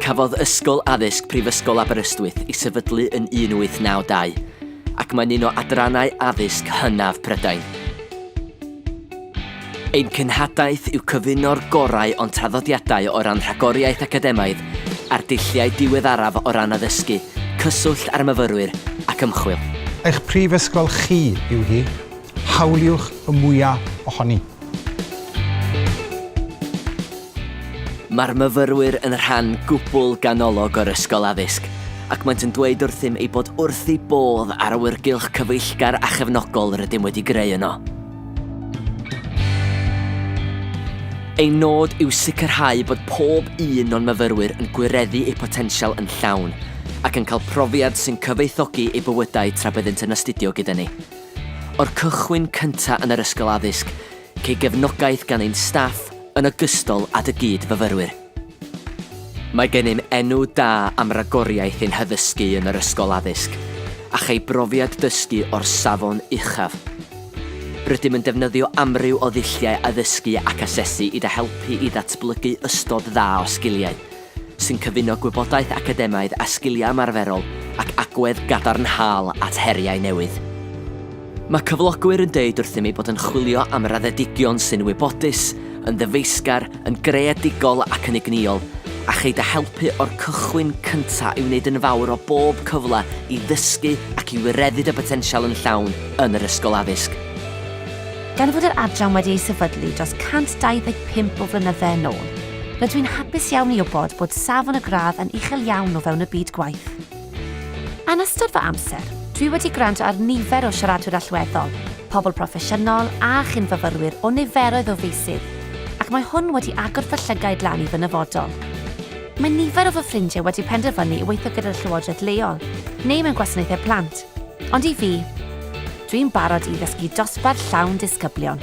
Cafodd Ysgol Addysg Prifysgol Aberystwyth ei sefydlu yn 1892, ac mae'n un o adrannau addysg hynaf Prydain. Ein cenhadaeth yw cyfuno'r gorau o'n traddodiadau o ran rhagoriaeth academaidd a'r dulliau diweddaraf o ran addysgu, cyswllt â'r myfyrwyr ac ymchwil. Eich prifysgol chi yw hi, Hawliwch y mwya' ohoni. Mae'r myfyrwyr yn rhan gwbl ganolog o'r Ysgol Addysg ac maent yn dweud wrthym eu bod wrth eu bodd â'r awyrgylch cyfeillgar a chefnogol rydym wedi greu yno. Ein nod yw sicrhau bod pob un o'n myfyrwyr yn gwireddu eu potensial yn llawn ac yn cael profiad sy'n cyfoethogi eu bywydau tra byddent yn astudio gyda ni. O'r cychwyn cyntaf yn yr ysgol addysg, cei gefnogaeth gan ein staff yn ogystal â dy gyd-fyfyrwyr. Mae gennym enw da am ragoriaeth ein haddysgu yn yr ysgol addysg, a chei brofiad dysgu o'r safon uchaf. Rydym yn defnyddio amryw o ddulliau addysgu ac asesu i dy helpu i ddatblygu ystod dda o sgiliau, sy'n cyfuno gwybodaeth academaidd â sgiliau ymarferol ac agwedd gadarnhaol at heriau newydd. Mae cyflogwyr yn dweud wrthym eu bod yn chwilio am raddedigion sy'n wybodus, yn ddyfeisgar, yn greadigol ac yn egnïol, a cheid â helpu o'r cychwyn cyntaf i wneud yn fawr o bob cyfle i ddysgu ac i wireddu dy botensial yn llawn yn yr Ysgol Addysg. Gan fod yr Adran wedi ei sefydlu dros 125 o flynydde yn ôl, Rydw i'n hapus iawn i wybod bod safon y gradd yn uchel iawn o fewn y byd gwaith. Yn ystod fy amser, dwi wedi gwrando ar nifer o siaradwyr allweddol, pobl proffesiynol a chyn-fyfyrwyr o niferoedd o feysydd, ac mae hwn wedi agor fy llygaid lan i fy nyfodol. Mae nifer o fy ffrindiau wedi penderfynu i weithio gyda'r llywodraeth leol, neu mewn gwasanaethau plant, ond i fi, dwi'n barod i ddysgu dosbarth llawn disgyblion.